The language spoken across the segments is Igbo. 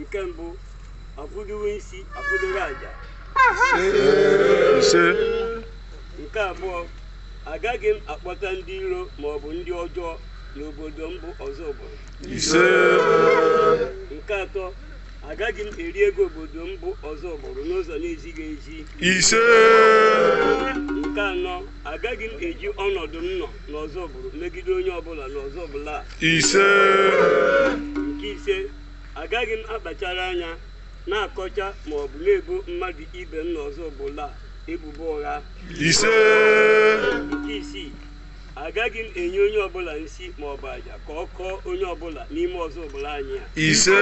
nke mbụ akwụdowe isi akwụdowe aja ise nke abụọ agaghị m akpọta ndị iro ma ọ bụ ndị ọjọọ n'obodo m bụ Ọzụbụlụ ise nke atọ agaghị m eri ego obodo m bụ Ọzụbụlụ n'ụzọ na-ezighị ezi ise nke anọ agaghị m eji ọnọdụ m nọ n'Ọzụbụlụ megide onye ọbụla n'Ọzụbụlụ a ise nke ise agaghị m akpachara anya na-akọcha ma ọ bụ na-ebo mmadụ ibe m n'Ọzụbụlụ a ebubo ụgha ise nke isii agaghị m enye onye ọbụla nsi ma ọ bụ aja ka ọ kọọ onye ọbụla n'ime Ọzụbụlụ anyị a ise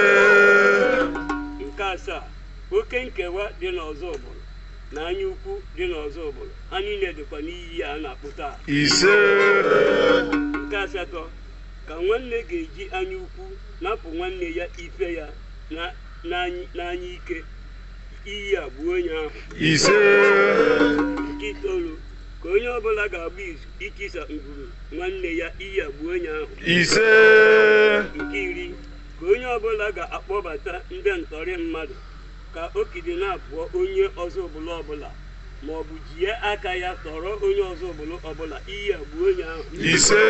nke asaa oke nkewa dị n'Ọzụbụlụ na anya ukwu dị n'Ọzụbụlụ ha niile dịkwa n'iyi a na-akpụ taa ise nke asatọ ka nwanne ga-eji anya ukwu napụ nwanne ya ife ya na- n'any- n'anya ike iyi a gbuo onye ahụ ise nke itoolu ka onye ọbụla ga-agba izu itisa ngwuru nwanne ya iyi a gbuo onye ahụ ise nke iri ka onye ọbụla ga-akpọbata ndị ntọrị mmadụ ka ọ kidnapụọ onye Ọzụbụlụ ọbụla ma ọ bụ jie aka ya tọrọ onye Ọzụbụlụ ọbụla iyi a gbuo onye ahụ ise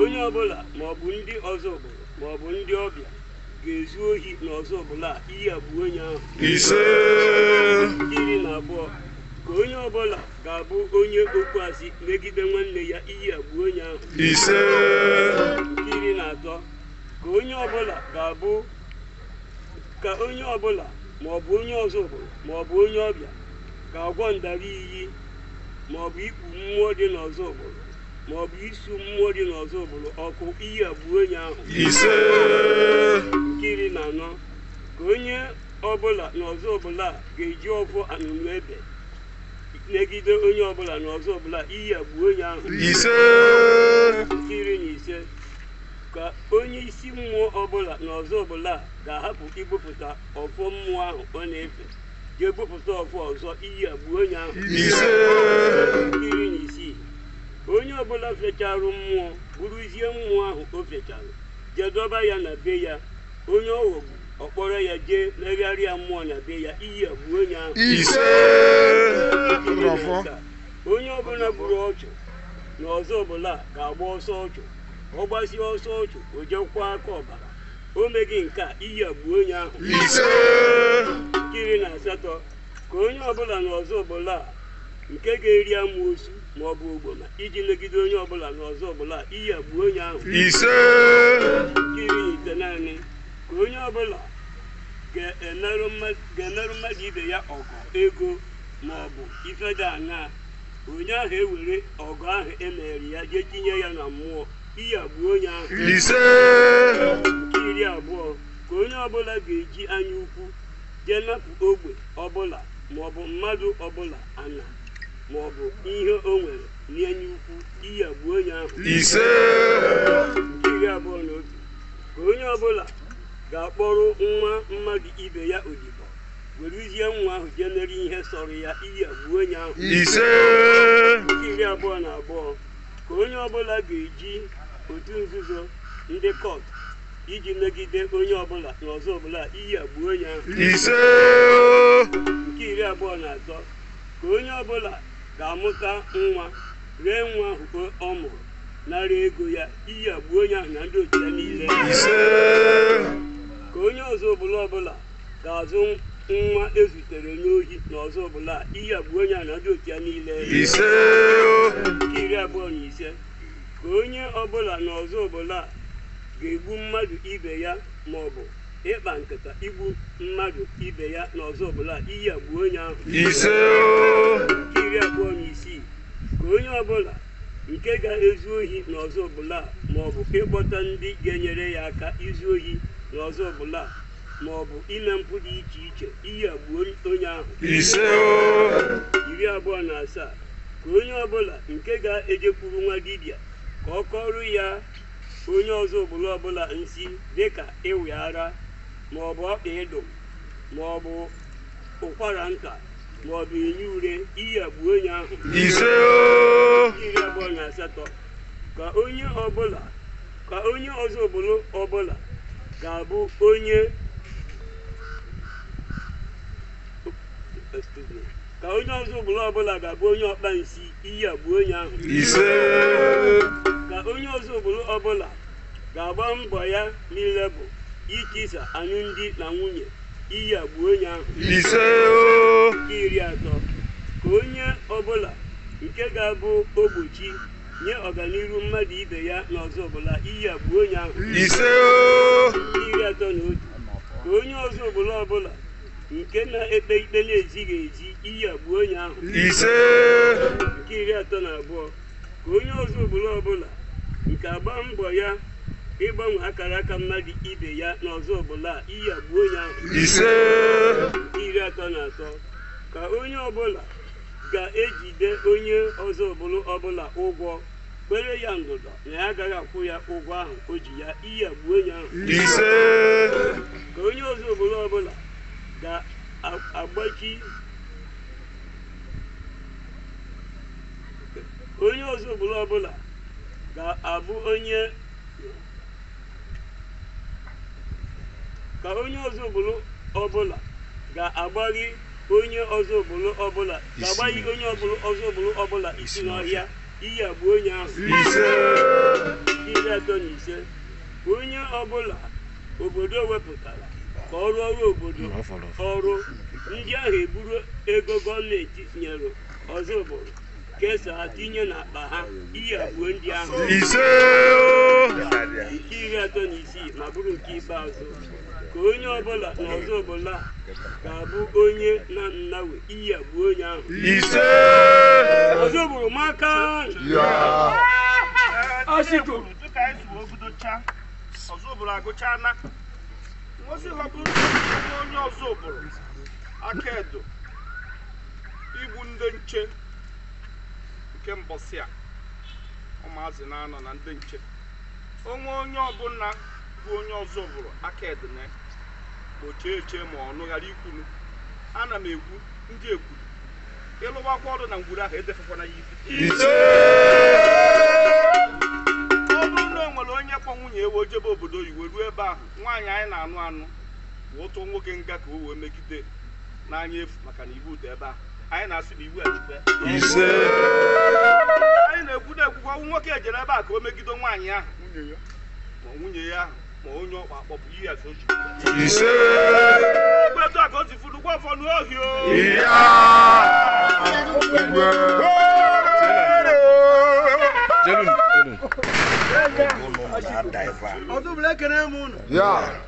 onye ọbụla ma ọ bụ ndị Ọzụbụlụ ma ọ bụ ndị ọbịa ga-ezu ohi na Ọzụbụlụ a iyi a gbuo onye ahụ ise nke iri na abụọ ka onye ọbụla ga-abụ onye okwu asị megide nwanne ya iyi a gbuo onye ahụ ise nke iri na atọ ka onye ọbụla ga-abụ ka onye ọbụla ma ọ bụ onye Ọzụbụlụ ma ọ bụ onye ọbịa ga-agwọ ndara iyi ma ọ bụ ikpu mmụọ dị n'Ọzụbụlụ ma ọ bụ isu mmụọ dị n'Ọzụbụlụ ọkụ iyi a gbuo onye ahụ ise nke iri na anọ ka onye ọbụla n'Ọzụbụlụ a ga-eji ọfọ anụnụ ebe megide onye ọbụla n'Ọzụbụlụ a iyi a gbuo onye ahụ ise nke iri na ise ka onye isi mmụọ ọbụla na Ọzụbụlụ a ga-ahapụ ibupụta ọfọ mmụọ ahụ ọ na-efe jee bupụta ọfọ ọzọ iyi a gbuo onye ahụ ise Nke iri na isii onye ọbụla fecharụ mmụọ buruzie mmụọ ahụ o fechara jee dọba ya na be ya onye ọ ghọgbu ọ kpọrọ ya jee megharịa mmụọ na be ya iyi a gbuo onye ahụ ise Nke iri na asaa, onye ọbụla gburu ọchụ na Ọzụbụlụ a ga-agba ọsọ ọchụ ọ gbasie ọsọ ọchụ o jekwa aka ọbara o meghị nke a iyi a gbuo onye ahụ ise nke iri na asatọ ka onye ọbụla n'Ozubulu a nke ga-eri amoosu ma ọ bụ ogboma iji megide onye ọbụla n'Ozubulu a iyi a gbuo onye ahụ ise nke iri na itenaanị ka onye ọbụla ga-emerụ mmadụ ibe ya ọgwụ ego ma ọ bụ ife dị aṅaa onye ahụ ewere ọgwụ ahụ e mere ya jee tinye ya na mmụọ iyi a gbuo onye ahụ ise nke iri abụọ ka onye ọbụla ga-eji anya ukwu jee napụ ogbe ọbụla maọbụ mmadụ ọbụla ana maọbụ ihe o nwere n'anya ukwu iyi a gbuo onye ahụ ise nke iri abụọ na otu ka onye ọbụla ga-akpọrọ nwa mmadụ ibe ya odibo weruzie nwa ahụ jee mere ihe sọrọ ya iyi a gbuo onye ahụ ise nke iri abụọ na abụọ ka onye ọbụla ga-eji otu nzuzo ndị cult iji megide onye ọbụla n'Ozubulu a iyi a gbuo onye ahụ ise nke iri abụọ na atọ ka onye ọbụla ga-amụta nwa ree nwa ahụ ọ mụrụ nara ego ya iyi a gbuo onye ahụ na ndị otu ya niile ise ka onye Ozubulu ọbụla ga-azụ nwa e zutere n'ohi n'Ozubulu a iyi a gbuo onye ahụ na ndị otu ya niile ise nke iri abụọ na ise ka onye ọbụla n'Ozubulu a ga-egbu mmadụ ibe ya ma ọ bụ ịkpa nkata igbu mmadụ ibe ya n'Ozubulu a iyi a gbuo onye ahụ ise nke iri abụọ na isii ka onye ọbụla nke ga-ezu ohi n'Ozubulu a ma ọ bụ ịkpọta ndị ga-enyere ya aka izu ohi n'Ozubulu a ma ọ bụ ime mpụ dị iche iche iyi a gbuo onye ahụ ise iri abụọ na asaa ka onye ọbụla nke ga-ejekwuru nwa dibịa ka ọ kọrọ ya onye Ozubulu ọbụla nsi dịka ịwị ara ma ọ bụ ọkpa ịdụm ma ọ bụ ụkwara nta ma ọ bụ enyi ure iyi a gbuo onye ahụ ise iri abụọ na asatọ ka onye ọbụla ka onye Ozubulu ọbụla ga-abụ onye ọkpa nsi iyi a gbuo onye ahụ ise ka onye Ozubulu ọbụla ga-agba mbọ ya niile bụ itisa anụmdi na nwunye iyi a gbuo onye ahụ ise o nke iri atọ ka onye ọbụla nke ga-abụ ogbochi nye ọganiru mmadụ ibe ya na ọzụbụlụ iyi a gbuo onye ahụ ise o iri atọ na otu ka onye ọzụbụlụ ọbụla nke na-ekpe ikpe na-ezighị ezi iyi a gbuo onye ahụ ise nke iri atọ na abụọ ka onye ọzụbụlụ ọbụla nke agba mbọ ya ịgbanwe akara aka mmadụ ibe ya na ọzụbụlụ iyi a gbuo onye ahụ ise nke iri atọ na atọ ka onye ọbụla ga-ejide onye ọzụbụlụ ọbụla ụgwọ kwere ya ndụdọ na ya agaghị akwụ ya ụgwọ ahụ o ji ya iyi a gbuo onye ahụ ise ka onye ọzụbụlụ ọbụla ga-agbachi onye ọzụbụlụ ọbụla ga-abụ onye ka onye ọzụbụlụ ọbụla ga-agbachi onye ọzụbụlụ ọbụla isi n'ọhịa iyi a gbuo onye ahụ iri atọ na ise onye ọbụla obodo wepụtara ka ọ rụọrọ obodo ọrụ ndị ahụ eburu ego gọọmenti nyere ọzụbụlụ kesaa tinye n'akpa ha iyi a gbuo ndị ahụ ise nke iri atọ na isii ma bụrụ nke ikpeazụ ka onye ọbụla na ọzụbụlụ ga-abụ onye na nnawe iyi a gbuo onye ahụ ise ọzụbụlụ maka ọsịkụ dịka anyị zuo obodocha ọzụbụlụ agụcha na ngosi ọ bụrụ onye ọzụbụlụ aka edo igbu ndị nche nke mbọsị a ụmụazị na-anọ na ndị nche onwe onye ọbụla bụ onye ọzụbụlụ aka edene gbochie eche ma ọnụ ghara ikwunu ana m ekwu ndị ekwu ịlụwakwa ọrụ na ngwuru ahụ edefekwana ya ibi ọ bụrụ na o nwere onye kpọ nwunye e wee jebe obodo oyibo ruo ebe ahụ nwaanyị anyị na-anụ anụ tụọ nwoke nga ka o wee megide n'anya efu maka na iwu dị ebe a anyị na-asị na iwu ejikwe ise anyị na-ekwu na-ekwukọ ọnwụ nwoke ejere ebe a ka o megide nwaanyị ahụ ma nwunye ya ahụ ma onye ọkpa akpọpụ ihe ya sochi ise etu a ka o si furu gwa ọfọ n'ohi o ya igwe jelun jelun ọzụbụlụ ekene m unu ya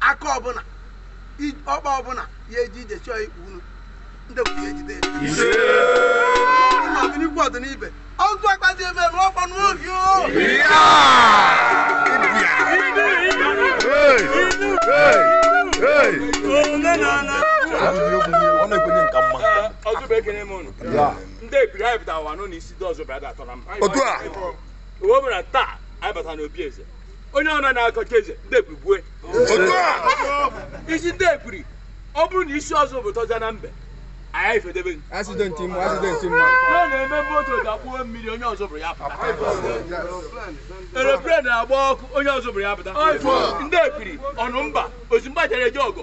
aka ọbụla i- ọkpa ọbụla ya eji ije chọọ ikpu unu ndị bụ ya ejide ọ dị n'ikwu ọ dị n'ibe ọdụ akpazi ebe ebe ọkpa n'oge o ndị ebiri anyị pụtara ụwa nọ n'isi dị ọzọ bịara atọ na mba otu a o nwere taa anyị bata n'obi eze onye ọna na-akọcha eze ndị ekwiri gbue isi ndị ekwiri ọ bụrụ na isi ọzọ bụ tọja na mbe anyị ifedebe gị. Accident mma, accident mma. na ọ na-eme moto dakpuo mmiri onye ọzọ buru ya pụta aeroplane na-agba ọkụ onye ọzọ buru ya pụta ndị ekwiri ọnụ mba ozi mgba jere eje ọgụ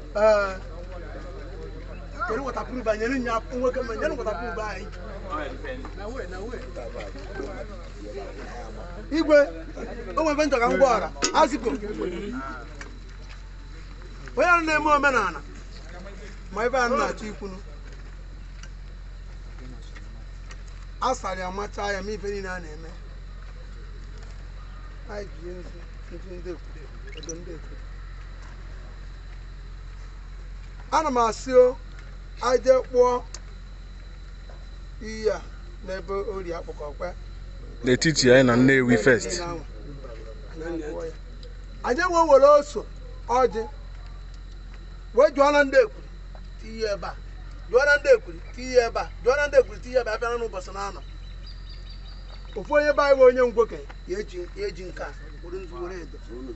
Ee, kedu waterproof a? Nyere nya nwoke ma nyere waterproof anyị. Igwe, o nwere ife m chọ ka m gwara, aziko. Onye ahụ na-eme omenala, ma ife a na-achọ ikwunu. A sara ya machaa ya ma ife niile a na-eme. Anyị ji ihe nzu, nzu ndị ekwuru, edo ndị ekwuru. ana m asị o aje kpụọ iyi a n'ebe ori akpụkọkwe n'etiti anyị na Nnewi first anyị wee were ose ọjị wee jụọ na ndị ekwuru tinye ebe a jụọ na ndị ekwuru tinye ebe a jụọ na ndị ekwuru tinye ebe a bịara n'ụbọchị na anọ ofu onye be anyị bụ onye ngwoke ya eji ya eji nke a were nzu were edo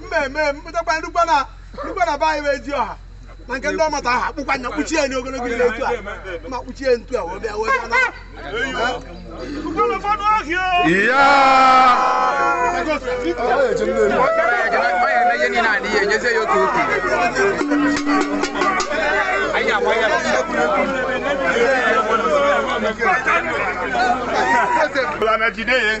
mmemme mpụtakwa ndukwa na ndukwa na be anyị wee ji ọha na nke ndị ọmata aha kpụkwa nya kpuchie ya n'ogologo ile etu a ma kpuchie ntu a wee bịa wee bịa na Bla, na jide ye.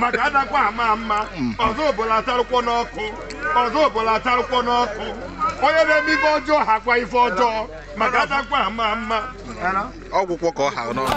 maka adakwa ama ama ọzọ obola atarụkwọ n'ọkụ ọzọ obola atarụkwọ n'ọkụ onye na-eme ife ọjọọ hakwa ife ọjọọ maka adakwa ama ama ọ gwụkwọ ka ọ ha n'ọnụ